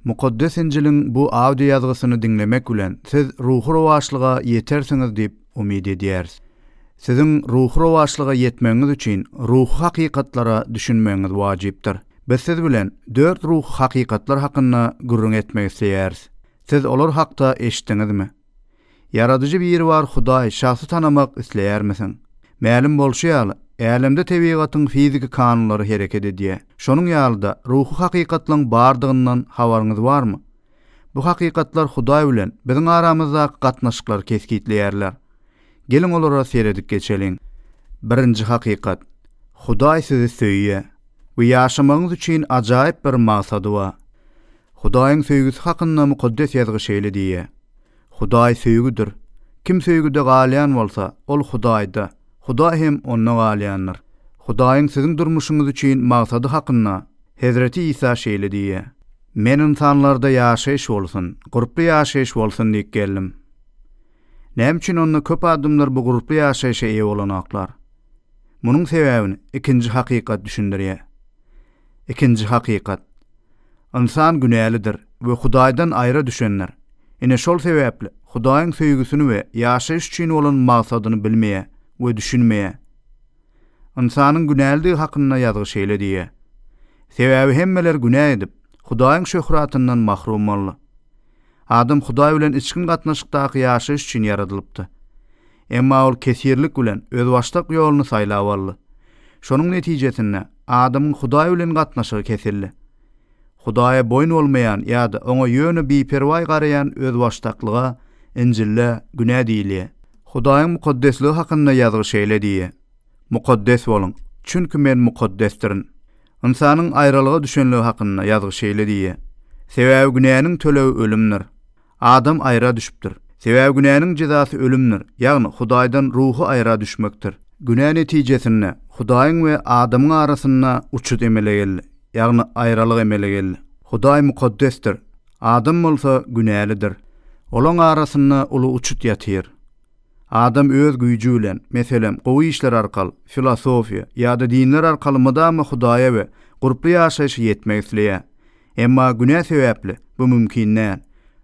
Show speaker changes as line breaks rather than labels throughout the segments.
Mukaddes Injiliň bu audio ýazgysyny diňlemek bilen siz ruhy rowaçlyga ýetersiňiz diýip umyt edýäris. Siziň ruhy rowaçlyga ýetmegiňiz üçin ruhy hakykatlara düşünmegiňiz wajypdyr. Biz siz bilen dört ruhy hakykatlar hakynda gürrüň etmek isleýäris. Siz olar hakda eşitdiňizmi? Ýaradyjy Biribar Hudaý şahsy tanamak isleýärmisiň? Mälim bolşy ýaly, älemde tebigatyň fiziki kanunlary hereket edýär. Şonuň ýaly-da, ruhy hakykatlaryň bardygyndan habaryňyz barmy? Bu hakykatlar Hudaý bilen biziň aramyzdaky gatnaşyklary kesgitleýärler. Geliň olara seredip geçeliň. Birinji hakykat. Hudaý sizi söýýär we ýaşamagyňyz üçin ajaýyp bir maksady bar. Hudaýyň söýgüsi hakynda Mukaddes Ýazgy şeýle diýýär, Hudaý söýgüdir. Kim söýgüde galýan bolsa, ol Hudaýda, Hudaý hem onda galýandyr. Hudaýyň siziň durmuşyňyz üçin maksady hakynda Hezreti Isa şeýle diýýär, Men ynsanlarda ýaşaýyş bolsun, gurply ýaşaýyş bolsun diýip geldim. Näme üçin onda köp adamlar bu gurply ýaşaýşa eýe bolanoklar? Munuň sebäbini ikinji hakykat düşündirýär. Ikinji hakykat. Ynsan günälidir we Hudaýdan aýra düşendir. Ine şol sebäpli Hudaýyň söýgüsini we ýaşaýyş üçin bolan magsadyny bilmeýär we düşünmeýär. Ynsanyň günälidigi hakynda ýazgy şeýle diýýär, Sebäbi hemmeler günä edip, Hudaýyň şöhratyndan mahrum boldy. Adam Hudaý bilen içgin gatnaşykdaky ýaşaýyş üçin ýaradylypdy. Emma ol kesirlik bilen özbaşdak ýoluny saýlap aldy. Şonuň netijesinde, adamyň Hudaý bilen gatnaşygy kesildi. Hudaýa boýun bolmaýan ýa-da oňa ýöne biperwaý garaýan özbaşdaklyga Injilde günä diýilýär. Hudaýyň mukaddesligi hakynda ýazgy şeýle diýýär, Mukaddes boluň, çünki Men mukaddesdirin. Ynsanyň aýralyga düşenligi hakynda Ýazgy şeýle diýýär, Sebäbi günäniň tölegi ölümdir. Adam aýra düşüpdir. Sebäbi günäniň jezasy ölümdir, ýagny Hudaýdan ruhy aýra düşmekdir. Günä netijesinde Hudaýyň we adamyň arasynda uçut emele geldi, ýagny aýralyk emele geldi. Hudaý mukaddesdir, adam bolsa günälidir. Olaň arasynda uly uçut ýatyr. Adam öz güýji bilen, meselem, gowy işler arkaly, filosofiýa, ýa-da dinler arkaly mydama Hudaýa we gurply ýaşaýşa ýetmek isleýär. Emma günä sebäpli bu mümkin däl.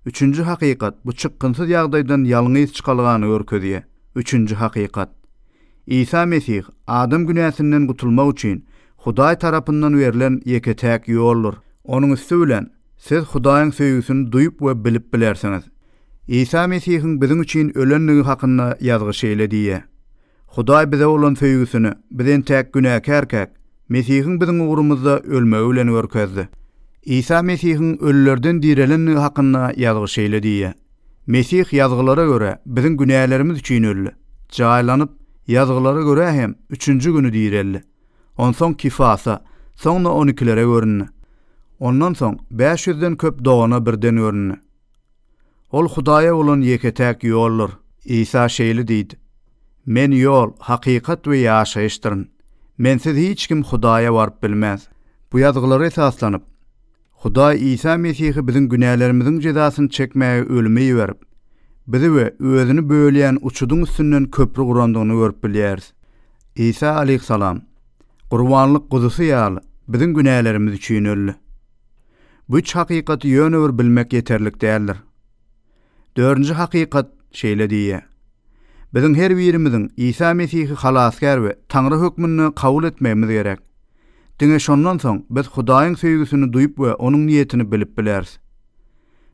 Üçünji hakykat bu çykgynsyz ýagdaýdan ýalňyz çykalgany görkezýär. Üçünji hakykat. Isa Mesih adam günäsinden gutulmak üçin Hudaý tarapyndan berlen ýeke-täk ýoldur. Onuň üsti bilen Siz Hudaýyň söýgüsini duýup we bilip bilersiňiz. Isa Mesihiň biziň üçin ölendigi hakynda Ýazgy şeýle diýýär, Hudaý bize bolan söýgüsini biz entäk günäkärkäk, Mesihiň biziň ugrumyzda ölmegi bilen görkezdi. Isa Mesihiň ölülerden direlendigi hakynda Ýazgy şeýle diýýär, Mesih Ýazgylara görä, biziň günälerimiz üçin öldi, jaýlanyp, Ýazgylara görä hem, üçünji güni direldi. Onsoň Kifasa, soňra on ikilere göründi. Ondan soň bäş ýüzden köp dogana birden göründi. Ol Hudaýa bolan ýeke-täk ýoldur. Isa şeýle diýdi, Men ýol, hakykat we ýaşaýyşdyryn. Mensiz hiç kim Hudaýa baryp bilmez. Bu ýazgylara esaslanyp, Hudaý Isa Mesihi biziň günälerimiziň jezasyny çekmäge ölüme iberip, bizi we özüni bölýän uçudyň üstünden köpri gurandygyny görüp bilýäris. Isa aleýhissalam, gurbanlyk guzusy ýaly, biziň günälerimiz üçin öldi. Bu üç hakykaty ýöne bir bilmek ýeterlik däldir. Dördünji hakykat şeýle diýýär, Biziň her birimiziň Isa Mesihi Halasgär we Taňry hökmünde kabul etmegimiz gerek. Diňe şondan soň biz Hudaýyň söýgüsini duýup we Onuň niýetini bilip bileris.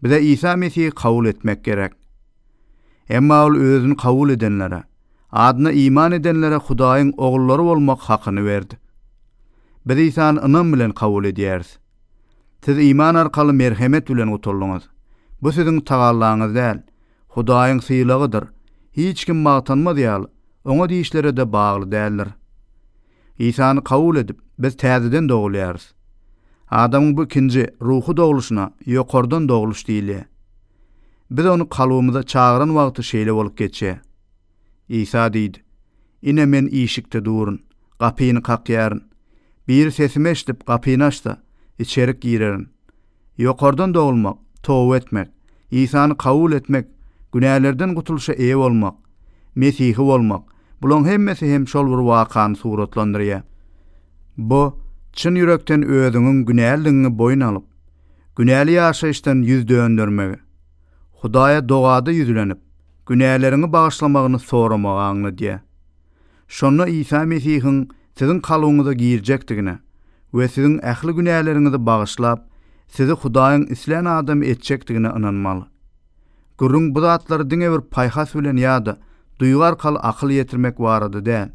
Bize Isa Mesihi kabul etmek gerek. Emma Ol Özüni kabul edenlere, adyna iman edenlere Hudaýyň ogullary bolmak hakyny berdi. Biz Isany ynam bilen kabul edýäris. Siz iman arkaly merhemet bilen gutuldyňyz. Bu siziň tagallaňyz däl, Hudaýyň sylagydyr. Hiç kim magtanmaz ýaly, oňa diýişlere-de bagly däldir. Isany kabul edip, biz täzeden dogulýarys. Adamyň bu ikinji, ruhy dogluşyna ýokardan dogluş diýilýär. Biz ony kalbymyza çagyran wagty şeýle bolup geçýär. Isa diýdi, Ine, Men işikde durun, gapyny kakýaryn. Biri sesimi eşidip, gapyny açsa, içerik girerin. Ýokardan dogulmak, toba etmek, Isany kabul etmek, günälerden gutulyşa eýe bolmak, Mesihi bolmak, bulaň hemmesi hem şol bir wakany suratlandyrýar. Bu, çyn ýürekden özüňiň günälidigiňi boýun alyp, günäli ýaşaýyşdan ýüz döndermegi, Hudaýa dogada ýüzlenip, Günäleriňi bagyşlamagyny soramagy aňladýar. Şonda Isa Mesihiň siziň kalbyňyza girjekdigine we siziň ähli günäleriňizi bagyşlap, sizi Hudaýyň islän adamy etjekdigine ynanmaly. Gürrüň bu zatlary diňe bir paýhas bilen ýa-da duýgy arkaly akyl ýetirmek barada däl.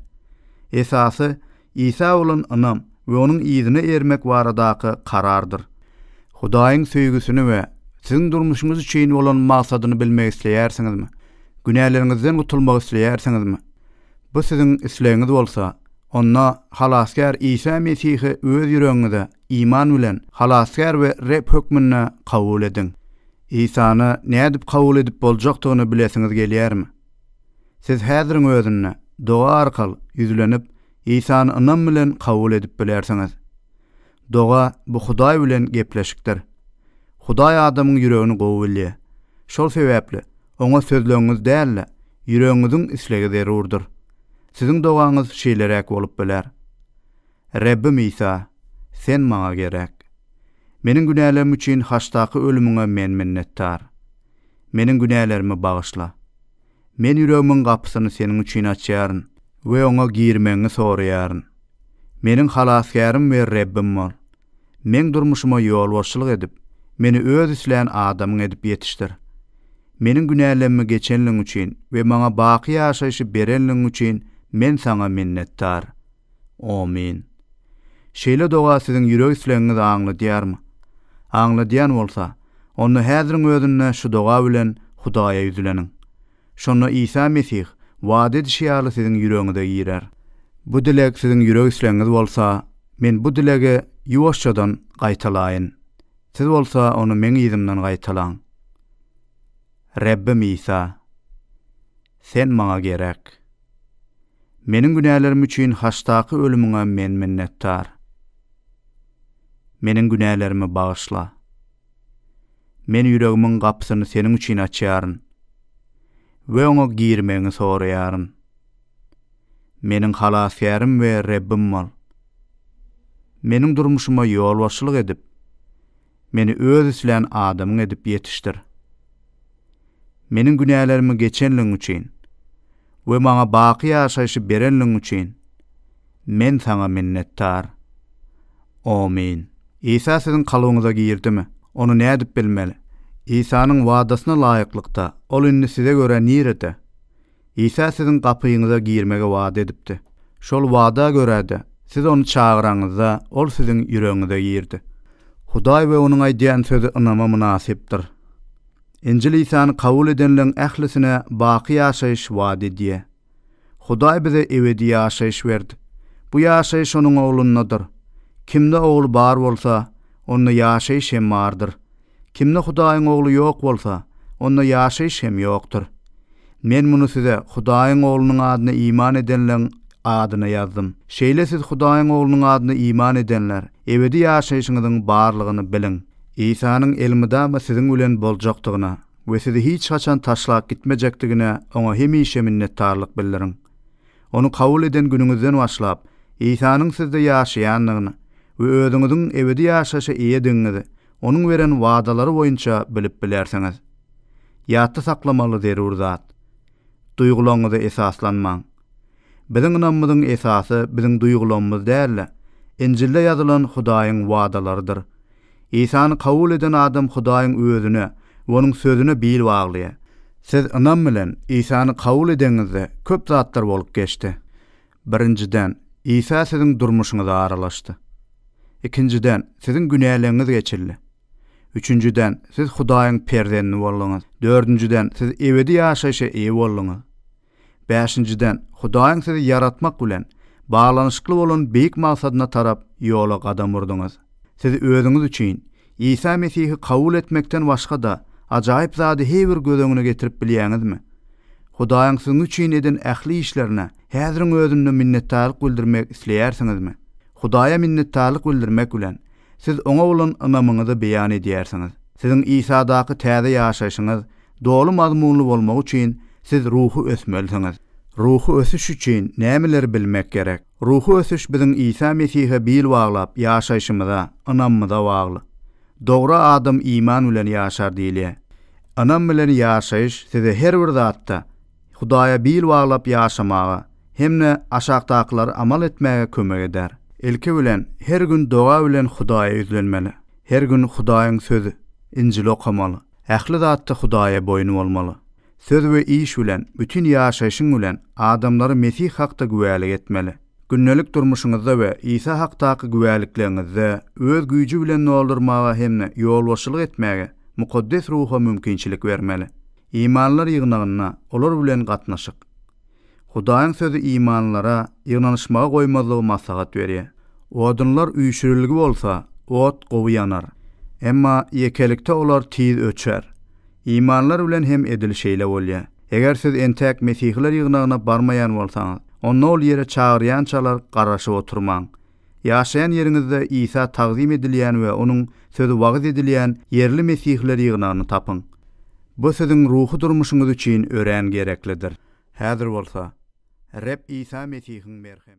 Esasy, Isa bolan ynam we onuň yzyna ermek baradaky karardyr. Hudaýyň söýgüsini we siziň durmuşyňyz üçin bolan maksadyny bilmek isleýärsiňizmi? Günäleriňizden gutulmak isleýärsiňizmi? Bu siziň islegiňiz bolsa, onda Halasgär Isa Mesihi öz ýüregiňize iman bilen Halasgär we Reb hökmünde kabul ediň. Isany nädip kabul edip boljakdygyny bilesiňiz gelýärmi? Siz häziriň özünde doga arkaly ýüzlenip, Isany ynam bilen kabul edip bilersiňiz. Doga bu Hudaý bilen gepleşikdir. Hudaý adamyň ýüregini gowy bilýär. Şol sebäpli Oňa sözlegiňiz däl-de, ýüregiňiziň islegi zerurdyr. Siziň dogaňyz şeýleräk bolup biler, Rebbim Isa, Sen maňa gerek. Meniň günälerim üçin haçdaky ölümiňe men minnetdar. Meniň günälerimi bagyşla. Men ýüregimiň gapysyny seniň üçin açýaryn we oňa girmegiňi soraýaryn. Meniň Halasgärim we Rebbim bol. Meň durmuşyma ýolbaşçylyk edip, meni Öz islän adamyň edip ýetişdir. Meniň günälemmi geçenligiň üçin we maňa baky ýaşaýşy berenligiň üçin men Saňa minnetdar. Omyn. Şeýle doga siziň ýürek islegiňizi aňladýarmy? Aňladýan bolsa, onda häziriň özünde şu doga bilen Hudaýa ýüzleniň. Şonda Isa Mesih wada edişi ýaly siziň ýüregiňize girer. Bu dileg siziň ýürek islegiňiz bolsa, men bu dilegi ýuwaşjadan gaýtalaýyn. Siz bolsa ony meň yzymdan gaýtalaň. Rebbim Isa! Sen maňa gerek. Meniň günälerim üçin haçdaky ölümiňe men minnetdar. Meniň günälerimi bagyşla. Men ýüregimiň gapysyny Seniň üçin açýaryn we oňa girmegiňi soraýaryn. Meniň Halasgärim we Rebbim bol. Meniň durmuşyma ýolbaşçylyk edip, Meni Öz islän adamyň edip ýetişdir. Meniň günälerimi geçenligiň üçin we maňa baky ýaşaýşy berenligiň üçin men Saňa minnetdar. Omyn. Isa siziň kalbyňyza girdimi? Ony nädip bilmeli? Isanyň wadasyna laýyklykda, Ol indi size görä nirede? Isa siziň gapyňyza girmegi wada edipdi. Şol wada görä-de, siz ony çagyraňyzda, ol siziň ýüregiňize girdi. Hudaý we onuň aýdýan sözi ynama mynasypdyr. Injil Isany kabul edenleň ählisine baky ýaşaýyş wada edýä. Hudaý bize ebedi ýaşaýyş berdi. Bu ýaşaýyş onuň Oglundadyr. Kimde Ogul bar bolsa, onda ýaşaýyş hem bardyr. Kimde Hudaýyň Ogly ýok bolsa, onda ýaşaýyş hem ýokdur. Men muny size Hudaýyň Oglunyň adyna iman edenleň adyna ýazdym. Şeýle siz Hudaýyň Oglunyň adyna iman edenler, ebedi ýaşaýşyňyzyň barlygyny biliň. Isanyň elmydama siziň bilen boljakdygyna we sizi hiç haçan taşlap gitmejekdigine Oňa hemişe minnetdarlyk bildiriň. Ony kabul eden günüňizden başlap, Isanyň sizde ýaşaýandygyny we özüňiziň ebedi ýaşaýşa eýedigiňizi Onuň beren wadalary boýunça bilip bilersiňiz. Ýatda saklamaly zerur zat, Duýgularyňyza esaslanmaň. Biziň ynamymyzyň esasy biziň duýgularymyz däl-de, Injilde ýazylan Hudaýyň wadalarydyr. Isany kabul eden adam Hudaýyň Özüne we Onuň Sözüne bil baglaýar. Siz ynam bilen Isany kabul edeňizde köp zatlar bolup geçdi. Birinjiden, Isa siziň durmuşyňyza aralaşdy. Ikinjiden, siziň günäleriňiz geçildi. Üçünjiden, siz Hudaýyň perzendi bolduňyz. Dördünjiden, siz ebedi ýaşaýşa eýe bolduňyz. Bäşinjiden, Hudaýyň sizi ýaratmak bilen baglanyşykly bolan beýik maksadyna tarap ýola gadam urduňyz. Siz özüňiz üçin Isa Mesihi kabul etmekden başga-da, ajaýyp zady he bir göz öňüne getirip bilýäňizmi? Hudaýyň siziň üçin eden ähli işlerine häziriň özünde minnetdarlyk bildirmek isleýärsiňizmi? Hudaýa minnetdarlyk bildirmek bilen, siz Oňa bolan ynamyňyzy beýan edýärsiňiz. Siziň Isadaky täze ýaşaýşyňyz doly mazmunly bolmagy üçin siz ruhy ösmelisiňiz. Ruhy ösüş üçin nämeleri bilmek gerek? Ruhy ösüş biziň Isa Mesihe bil baglap ýaşaýşymyza, ynamymyza bagly. Dogry adam iman bilen ýaşar diýilýär. Ynam bilen ýaşaýyş sizi her bir zatda Hudaýa bil baglap ýaşamaga hem-de aşakdakylary amal etmäge kömek eder. Ilki bilen, her gün doga bilen Hudaýa ýüzlenmeli. Her gün Hudaýyň Sözi, Injili okamaly. Ähli zatda Hudaýa boýun bolmaly. Söz we iş bilen, bütin ýaşaýşyň bilen adamlara Mesih hakda güwälik etmeli. Gündelik durmuşyňyzda we Isa hakdaky güwälikligiňizde öz güýji bilen doldurmaga hem-de ýolbaşçylyk etmäge Mukaddes Ruha mümkinçilik bermeli. Imanlar ýygnagynda olar bilen gatnaşyk. Hudaýyň Sözi imanlylara ýygnanyşmagy goýmazlygy maslahat berýär. Odunlar üýşürilgi bolsa, ot gowy ýanar. Emma ýekelikde olar tiz öçer. Imanlylar bilen hem edil şeýle bolýar. Eger siz entäk Mesihiler ýygnagyna barmaýan bolsaňyz, onda ol ýere çagyrýançalar garaşyp oturmaň. Ýaşaýan ýeriňizde Isa tagzym edilýän we onuň sözi wagyz edilýän ýerli mesihler ýygnagyny tapyň. Bu siziň ruhy durmuşyňyz üçin örän gereklidir. Häzir bolsa, Reb Isa Mesihiň merhem.